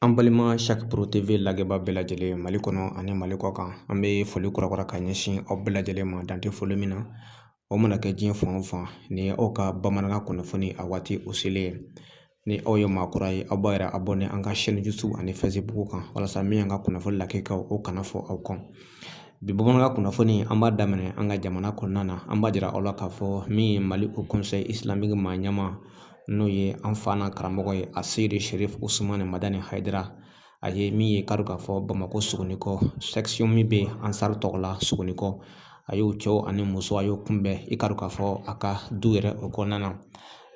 An balima sac pro tv lajɛbaa bɛɛ lajɛlen mali kɔnɔ ani mali kɔ kan an bɛ foli kura ka ɲɛsin aw bɛɛ lajɛlen ma dan tɛ foli min na o mana kɛ diɲɛ fan o fan ni aw ka bamanankan kunnafoni a waati o selen ye ni aw ye maa kura ye aw b'a yɛrɛ abonné an ka chaîne youtube ani facebook kan walasa min y'an ka kunnafoni lakikaw o kana fɔ aw kɔ bi bamanankan kunnafoni an b'a daminɛ an ka jamana kɔnɔna na an b'a jira aw la k'a fɔ min ye mali haut conseil islamique maa ɲɛma n'o ye an fa n'an karamɔgɔ ye aseyidi serifu usumani madani hayidara a ye min ye k'a dɔn k'a fɔ bamakɔ sogonikɔ section min bɛ ansari tɔgɔ la sogonikɔ a y'o cɛw ani muso a y'o kunbɛn i k'a dɔn k'a fɔ a ka du yɛrɛ o kɔnɔna na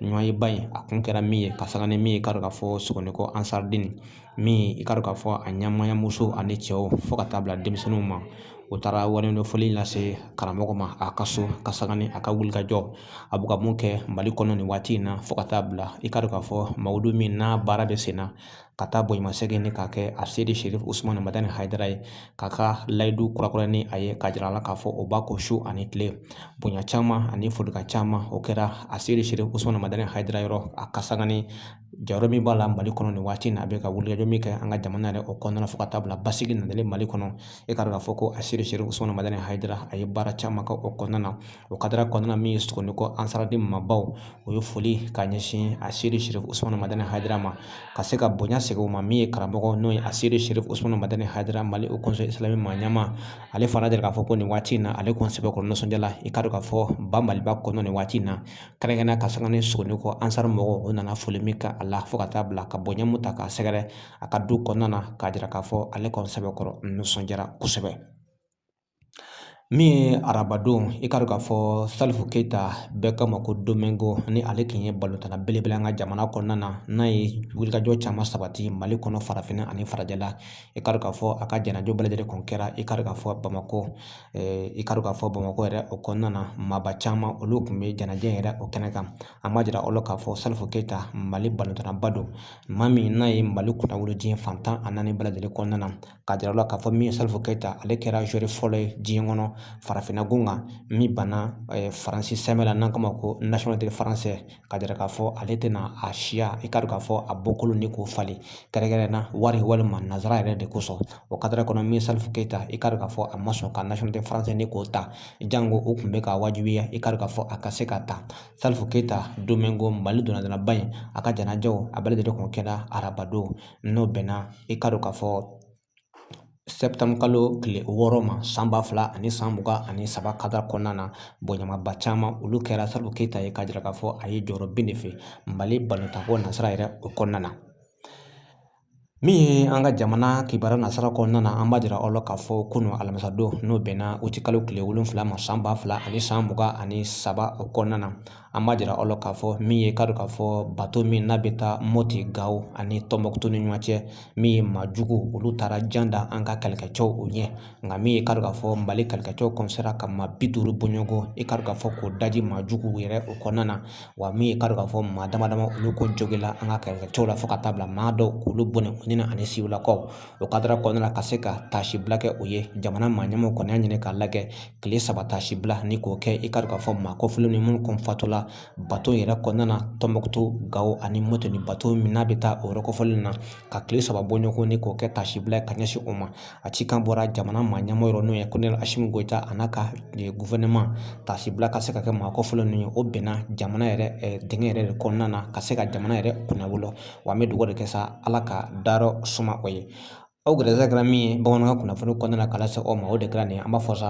ɲɔgɔnyeba in a kun kɛra min ye ka sanga ni min ye k'a dɔn k'a fɔ sogonikɔ ansaridini min i k'a dɔn k'a fɔ a ɲɛmaaya muso ani cɛw fo ka taa bila denmisɛnninw ma o taara waleɲumandɔn foli lase karamɔgɔ ma a ka so ka sanga ni a ka wulikajɔ a bɛ ka mun kɛ mali kɔnɔ nin waati in na fo ka taa bila i k'a dɔn k'a fɔ mawuludu min n'a baara bɛ sen na ka taa bonyasegin ni k'a kɛ aseyidi serifu usumani madani hayidara ye k'a ka layidu kurakura ni a ye k'a jira a la k'a fɔ o b'a kɔ su ani tile bonya caman ani folikan caman o kɛra aseyidi serifu usumani madani hayidara yɔrɔ a ka sanga ni jɔyɔrɔ min b'a la mali kɔnɔ nin waati in na a bɛ ka wulikajɔ min kɛ an ka jamana yɛrɛ o kɔnɔna fo ka taa bila basigi nalen mali kɔnɔ i k'a dɔn k'a fɔ ko aseyidi serifu usumani madani hayidara a ye baara caman kɛ o kɔnɔna na o kadara kɔnɔna min ye sogonikɔ ansaridini maabaw o ye foli ka ɲɛsin aseyidi serifu usumani madani hayidara ma ka se ka bonya segin o ma min ye karamɔgɔ n'o ye aseyidi serifu usumani madani hayidara mali haut conseil islamique maa ɲɛma ale fana jira k'a fɔ ko nin waati in na ale kɔni sɛbɛkɔrɔ nisɔndiyala i k'a dɔn k'a fɔ ba maliba kɔnɔ nin waati in na kɛrɛnkɛrɛnnenya ka sanga ni sogonikɔ ansari mɔgɔw o nana foli min kɛ a la fo ka taa bila ka bonya mun ta k'a sɛgɛrɛ a ka du kɔnɔna na k'a jira k'a fɔ ale kɔni sɛbɛkɔrɔ nisɔndiyara kosɛbɛ min ye arabadon i k'a dɔn k'a fɔ salifu keyita bɛɛ k'a ma ko domingo ni ale tun ye balontanna belebele an ka jamana kɔnɔna na n'a ye wulikajɔ caman sabati mali kɔnɔ farafinna ani farajɛla i k'a dɔn k'a fɔ a ka janaja bɛɛ lajɛlen kun kɛra i k'a dɔn k'a fɔ bamakɔ i k'a dɔn k'a fɔ bamakɔ yɛrɛ o kɔnɔna na maaba caman olu tun bɛ janaja yɛrɛ o kɛnɛ kan an b'a jira aw la k'a fɔ salifu keyita mali balontannaba don maa min n'a ye mali kunnawolo diɲɛ fan tan ani naani bɛɛ lajɛlen kɔnɔna na k'a jira aw la k'a fɔ min ye salifu keyita ale kɛra joueur fɔlɔ ye diɲɛ kɔnɔ farafinna gun kan min banna faransi sɛbɛn la n'an k'a ma ko nationalité français k'a jira k'a fɔ ale tɛna a siya i k'a dɔn k'a fɔ a bɔkolo ni k'o falen kɛrɛnkɛrɛnnenya na wari walima nanzara yɛrɛ de kosɔn o kadara kɔnɔ min salifu keyita i k'a dɔn k'a fɔ a ma sɔn ka nationalité français ni k'o ta janko o tun bɛ k'a wajibiya i k'a dɔn k'a fɔ a ka se k'a ta salifu keyita domingo mali ntolatannaba in a ka janajaw a bɛɛ lajɛlen kun kɛra arabadon n'o bɛnna i k'a dɔn k'a fɔ kalo tile wɔɔrɔ ma san ba fila ani san mugan ani saba kadara kɔnɔna na bonyamaba caman olu kɛra salifu keyita ye k'a jira k'a fɔ a ye jɔyɔrɔ bin de fɛ mali balontan ko nasira yɛrɛ o kɔnɔna na min ye an ka jamana kibaruya nasira kɔnɔna na an b'a jira aw la k'a fɔ kunun alamisadon n'o bɛnna uti kalo tile wolonwula ma san ba fila ani san mugan ani saba o kɔnɔna na an b'a jira aw la k'a fɔ min ye k'a dɔn k'a fɔ bato min n'a bɛ taa mɔti gawo ani tɔnbɔkutu ni ɲɔgɔn cɛ min ye maa jugu olu taara jan da an ka kɛlɛkɛcɛw o ɲɛ nka min ye k'a dɔn k'a fɔ mali kɛlɛkɛcɛw kɔni sera ka maa bi duuru bɔɲɔgɔn i k'a dɔn k'a fɔ k'o daji maa jugu yɛrɛ o kɔnɔna na wa min ye k'a dɔn k'a fɔ maa dama dama olu kɔni jogila an ka kɛlɛkɛcɛw la fo ka taa bila maa dɔw k'olu bɔnɛ u ni na ani siwilakaw o kadara kɔnɔna na ka se ka taasibila kɛ o ye jamana maa ɲɛmɔgɔ kɔni y'a ɲini k'a lajɛ tile saba taasibila ni k'o kɛ i k'a dɔn k'a fɔ maa kɔfɔlen ni minnu kɔni fatula bato yɛrɛ kɔnɔna na tɔnbɔkutu gawo ani mɔti ni bato min n'a bɛ taa o yɔrɔ kɔfɔlen na ka tile saba bɔ ɲɔgɔn ni k'o kɛ taasibila ye ka ɲɛsin o ma a cikan bɔra jamana maa ɲɛmɔgɔ yɔrɔ n'o ye kolonɛli asimi goyita a n'a ka gofɛrɛnaman taasibila ka se ka kɛ maa kɔfɔlen ninnu ye o bɛnna jamana yɛrɛ denkɛ yɛrɛ de kɔnɔna na ka se ka jamana yɛrɛ kunnawolo wa an bɛ dugawu de kɛ sa ala ka dayɔrɔ suma o ye aw gɛrɛsɛgɛ kɛra min ye bamanankan kunnafoni kɔnɔna na k'a lase aw ma o de kɛra nin ye an b'a fɔ sa